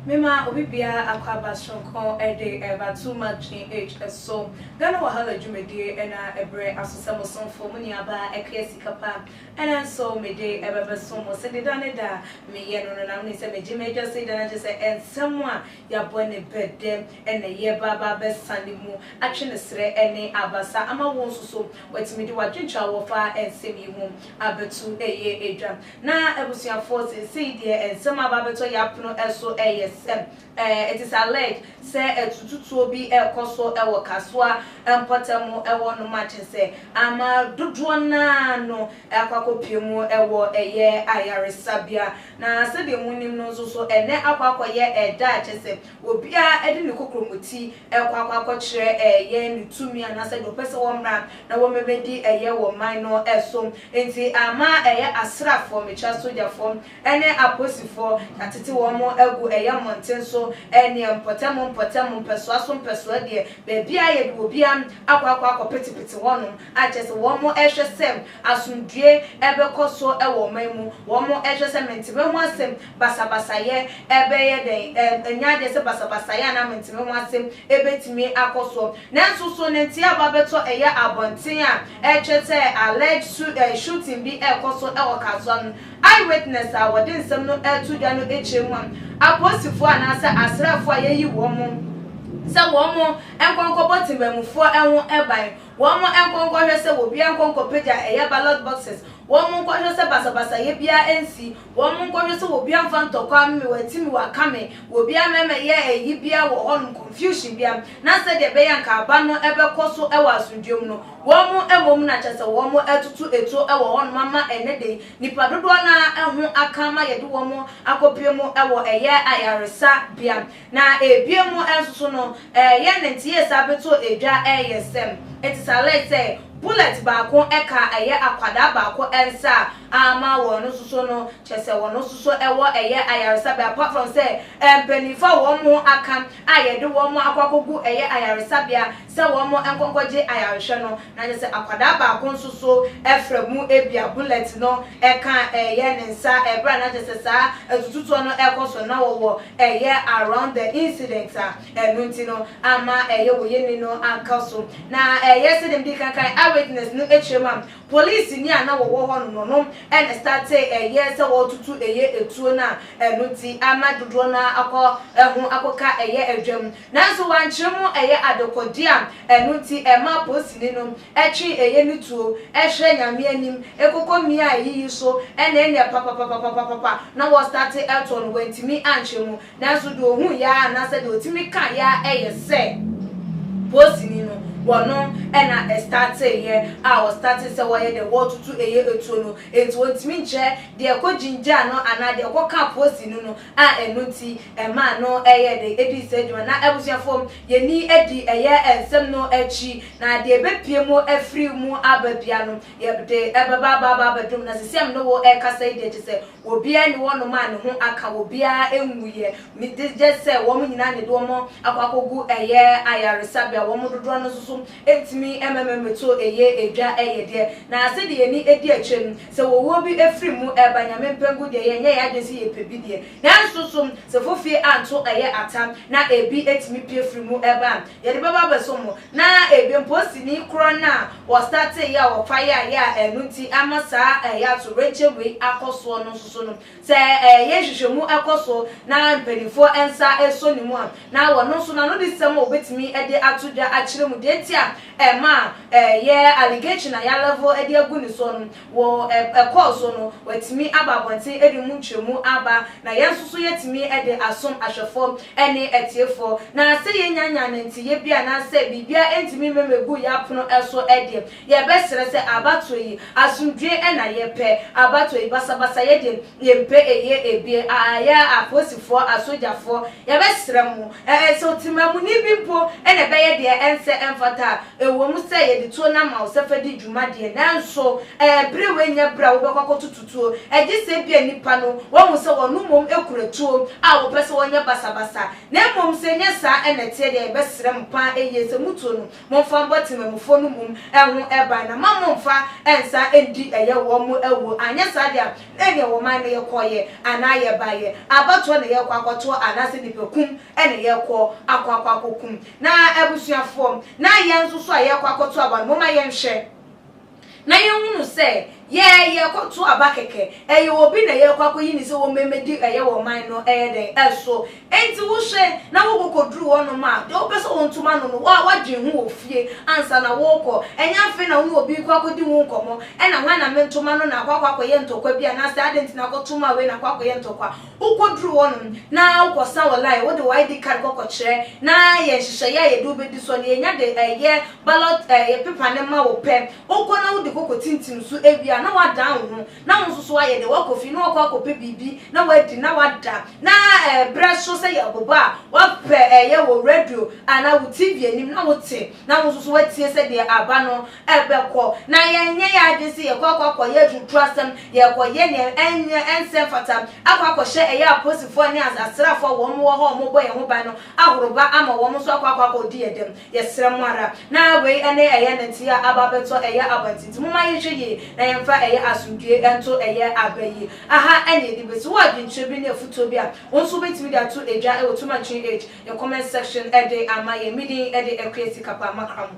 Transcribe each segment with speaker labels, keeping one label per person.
Speaker 1: Mema obi biara akwaaba soronko de reba Too Much GH so, Ghana Wahala dwumadie na ɛbrɛ aso sɛ mo somfo, mo nuabaa Akua Sika Pa na nso mede ɛbɛbɛso mo. Sɛ ne da ne da a meyɛ no no na monim sɛ megye m'agya sei da no agye sɛ nsɛm a Yɛabɔ ne bɛ dɛ ɛnnɛ yɛreba aba abɛsa ne mu, atwe ne serɛ ne abasa ama wɔn nso so wɔatumi de wɔn adwenkyerɛ a wɔfa nsɛm yi ho abɛto ɛyɛ adwa. Na abusuafoɔ seesei deɛ nsɛm a aba abɛtɔ yɛn apono so yɛ sɛ, it is alleged sɛ atututuo bi rekɔ so wɔ Kasoa mpɔtam hɔ nom a kyerɛ sɛ ama dodoɔ no ara no akɔ akɔpue mu wɔ ɛyɛ ayaresabea. Na sɛdeɛ monim no nso so, ɛnnɛ akɔ akɔyɛ ɛda a ɛkyɛ sɛ obiara de ne kokromoti kɔ akɔ akɔkyerɛ yɛn ne tumi anaa sɛ deɛ ɔpɛ sɛ wɔmmra na wɔmmɛbɛdi ɛyɛ wɔ man no so. Enti ama ɛyɛ asraafoɔ, mekyerɛ asogyafoɔ, ne apolisifoɔ, yɛatete wɔn agu ɛyɛ mmɔnten so neɛ mpɔtam mpɔtam, mpɛsoa so mpɛsoa deɛ, baabiara a yɛde obiara akɔ akɔ akɔpetepete hɔnom a kyerɛ sɛ wɔhwɛ sɛ Asomdwoeɛ bɛkɔ so wɔ ɔman mu. Wɔhwɛ sɛ menteme ho asɛm. Basabasayɛ bɛyɛ dɛn? Ɛnyɛ adeɛ sɛ basabasayɛ anaa menteme ho asɛm bɛtumi akɔ soɔ. Nanso so ne nteɛ aba bɛtɔ ɛyɛ abɔnten a ɛkyerɛ sɛ alleged shooting bi rekɔ so wɔ Kasoa no? Eyewitness a wɔde nsɛm no to dwa no kyerɛ mu a, apolisifoɔ anaasɛ asraafoɔ a yɛayi wɔn sɛ wɔn nkɔ nkɔbɔ temammufoɔ ho ban, Wɔn nkɔ nkɔhwɛ sɛ obiara nkɔ nkɔpagya ɛyɛ ballot boxes, wɔn nkɔhwɛ sɛ basabasayɛ biara nsi, wɔn nkɔhwɛ sɛ obiara mfa ntɔkwa mme watimi wakame, obiara mma ɛmɛyɛ ayi biara wɔ hɔnom, confusion biara, na sɛdeɛ ɛbɛyɛ anka aba no bɛkɔ so wɔ asomdwoeɛ mu no, wɔn mmom na kyerɛ sɛ wɔn atutu atuo wɔ hɔnom ama ɛnnɛ da yi nnipa dodoɔ no ara ho aka ma yɛde wɔn akɔpue mu wɔ ɛyɛ ayaresabea. Na ebien mu nso so no, yɛ ne nteyɛɛ saa beto edwa yɛ sɛm. Eti sa lɛɛ sɛ bulɛt baako ka yɛ akwadaa baako nsa a, aama wɔn no so so no, kyerɛ sɛ wɔn no so so wɔ yɛ ayaresabea, apart from sɛ mpanyinfo a wɔn ho aka a yɛde wɔn akɔ akɔgu yɛ ayaresabea sɛ wɔn nkɔ nkɔgye ayarehwɛ no, na kyerɛ sɛ akwadaa baako nso so fra mu ebia bullet no ka ɛyɛ ne nsa bere a na kyerɛ sɛ saa atututoɔ no rekɔ so na wɔwɔ ɛyɛ around the incident a ɛno nti no ama ɛyɛ wɔ yɛni no aka so na ɛyɛ sɛdeɛ mede kan kan eye witness no akyerɛ mu a police ni a na wɔwɔ hɔ no no ɛna starte ɛyɛ sɛ wɔretutu ɛyɛ etuo no a ɛno nti ama dodoɔ no akɔ ɛho akɔka ɛyɛ adwam Nanso wɔankyere mo, ɛyɛ adekode a ɛno nti ɛma polisini no twe ɛyɛ no tuo hwɛ Nyame anim kɔkɔ mia a ɛyiyi so na ɛnyɛ papapapapapapa na wɔstate toɔ no, wɔantumi ankyere mo. Nanso deɛ ɔhuiɛ ara anaasɛ deɛ ɔtumi kaeɛ ara yɛ sɛ polisini no, wɔno na ɛstateeɛ a wɔstatee sɛ wɔyɛ dɛn, wɔretutu ɛyɛ tuo no, enti wɔntumi nkyerɛ deɛ ɛkɔgyingyaa no anaa deɛ ɛkɔkaa polisini no a ɛno nti ɛmaa no yɛɛ dɛ dii saa dwuma. Na abusuafo, yɛnni adi yɛ nsɛm no akyi, na deɛ ɛbɛpue mu afiri mu aba biara no, yɛde bɛba aba aba abɛdom. Na seesei a me ne wo rekasa yi deɛ, kyerɛ sɛ, obiara nni hɔnom a ne ho aka, obiara nwuiɛ, gye gye sɛ wɔn nyinaa na yɛde wɔn akɔ akɔgu ɛyɛ ayaresabea, wɔn dodoɔ no nso so ntumi mma me mmɛtoo ɛyɛ dwa yɛ deɛ. Na sɛdeɛ yɛn ani di akyire no, Sɛ ɔwuo bi firi mu reba Nyame mpɛ nko deɛ yɛnyɛ yɛn adwene sɛ yɛpɛ bi deɛ. Nanso nso sɛ fofie anto ɛyɛ atam na ebi tumi pue firi mu ba a, yɛde bɛba abɛsom mo. Na ebi mpo sini korɔ no a wɔstarteeɛ a wɔfa yɛayɛ a ɛno nti ama saa yɛ atoyerɛnkyɛm wei akɔ soɔ no nso so no, Sɛ ɛyɛ nhwehwɛmu kɔ so na mpanimfoɔ nsa sɔ ne mu a, na wɔn nso no anodesɛm a wɔbɛtumi de ato dwa akyerɛ mu deɛ nti a ɛma ɛyɛ allegation a yɛalevo de agu ne soɔ no wɔ ɛkɔɔ so no, wɔatumi aba abɔnten de mu nkyerɛmu aba na yɛn nso so yɛatumi de asom ahwɛfoɔ ne atiefoɔ. Na sɛ yɛnnya nnyaa nanteeɛ bi anaasɛ biribiara ntumi mma mmɛgu yɛn apono so deɛ, Yɛbɛsrɛ sɛ abatoɔ yi, asomdwoeɛ na yɛpɛ, abatoɔ yi basabasayɛ deɛ yɛmpɛ, ɛyɛ ebie aa, yɛ apolisifoɔ, asogyafoɔ, yɛbɛsrɛ mo ɛɛ sɛ ɔtemamuni bi mpo na ɛbɛyɛ deɛ ɛnsɛ ɛmfata a, ɛwɔ mu sɛ yɛde tuo no ama wo sɛ fa di dwuma deɛ, nanso ɛɛ berɛ wei nyɛ berɛ a wobɛkɔ akɔtoto tuo, ɛgye sɛ ebia nnipa no wɔahu sɛ wɔn mmom kura tuo a wɔpɛ sɛ wɔyɛ basabasa, na mmom sɛ ɛnyɛ saa na ɛteɛ deɛ a, yɛbɛsrɛ mo pa ara yie sɛ motuo no Momfa mbɔ tsemanmufo no mum ho ban, na mma mommfa nsa nndi yɛ hɔn mu awu, annyɛ saa dze a nna nnyɛ hɔn man na yɛkɔɔyɛ anaa yɛbaeɛ, abatoɔ na yɛrekɔ akɔtoɔ anaasɛ nnipakum na yɛrekɔ akɔ akɔ akɔkum. Na abusuafoɔ, na yɛn nso so a yɛrekɔ akɔtoa wɔn no, momma yɛnhwɛ. Na yɛhunu sɛ yɛɛ yɛrekɔto aba kɛkɛ. Ɛyɛ obi na yɛrekɔ akɔyi no sɛ wɔmmɛdi ɛyɛ wɔ ɔman no ɛyɛ dɛn? so. Enti wohwɛ na wokɔ kɔduru hɔnom a, deɛ wopɛ sɛ wɔnto ma no no, wo a woadwen ho wɔ fie ansa na worekɔ. Ɛnyɛ afei na wo ne obi rekɔ akɔdi ho nkɔmmɔ, ɛna hwan na mento ma no na akɔ akɔ akɔyɛ ntɔkwa bi anaasɛ adɛn nti na akɔto ma wei na akɔ akɔyɛ ntɔkwa. Wokodur hɔ no, na wokɔsan wo line, wode wo ID card kɔ kɔkyerɛ, na yɛ nhyehyɛɛ a yɛde wo bedi soɔ, na yɛnya de yɛ ballot paper no ma wo pɛ. Wokɔ na wode koko tintim so wie a, na woadan wo ho, na wo nso so ayɛ dɛ woakɔ fie, na woakɔ akɔpɛ biribi na woadi na woada, na berɛ so sɛ yɛ bobɔ a, woapɛ yɛ wo radio anaa wo TV anim na wote, na wo nso so woatie sɛdeɛ aba no ɛbɛkɔ na yɛnyɛ yɛn adwene sɛ yɛkɔ akɔ akɔyɛ adwuduru asɛm, yɛkɔyɛ nea ɛnyɛ ɛnsɛ mfata, akɔ akɔhyɛ ɛyɛ apolisifoɔ ne asraafoɔ a wɔn wɔ hɔ a wɔbɔ yɛn ho ban no ahoroba ama wɔn nso akɔ akɔ akɔdi yɛn dɛm. Yɛsrɛ mo ara, na wei ne ɛyɛ nɛteɛ a aba abɛtɔ ɛyɛ aba nti, nti momma yɛnhwɛ yie na yɛmfa ɛyɛ asomdwoeɛ nto ɛyɛ aba yi aha na yɛde bɛsi. Wowɔ adwenkyerɛ bi ne afutuo bi a, wo nso wobɛtumi de ato edwa wɔ Tuma Chin Age yɛ comment section de ama yɛn. Me din de Akua Sika Paa Makramo.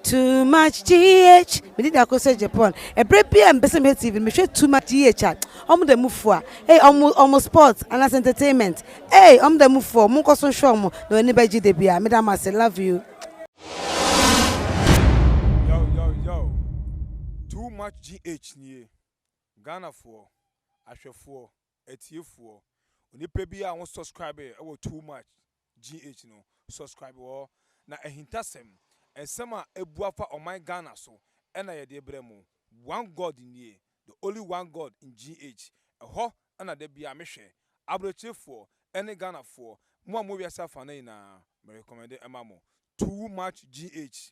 Speaker 2: Too much GH. Me did ako say Japan. Ebre bi a mbese me TV, me hwe too much GH a. Omo da mu fua. Hey, omo omo sports and as entertainment. Hey, omo da mu fua. Omo nkoso hwe omo. Na oni ba ji de bi a. Me da mase. Love you.
Speaker 3: Yo, yo, yo. Too much GH nie. Ghana foɔ, ahwɛfoɔ, Atiefoɔ, Onipa bi a wo subscribe wɔ too much GH no subscribe hɔ na ahintasɛm, nsɛm a ɛbu afa ɔman Ghana so na yɛde brɛ mo. One God nie, the only one God in GH. Ɛhɔ na da biara me hwɛ. Abrɛkyerefoɔ ne Ghanafoɔ, mo a mo wɔ wiase afa no nyinaa, me recommende ma mo. Too much GH.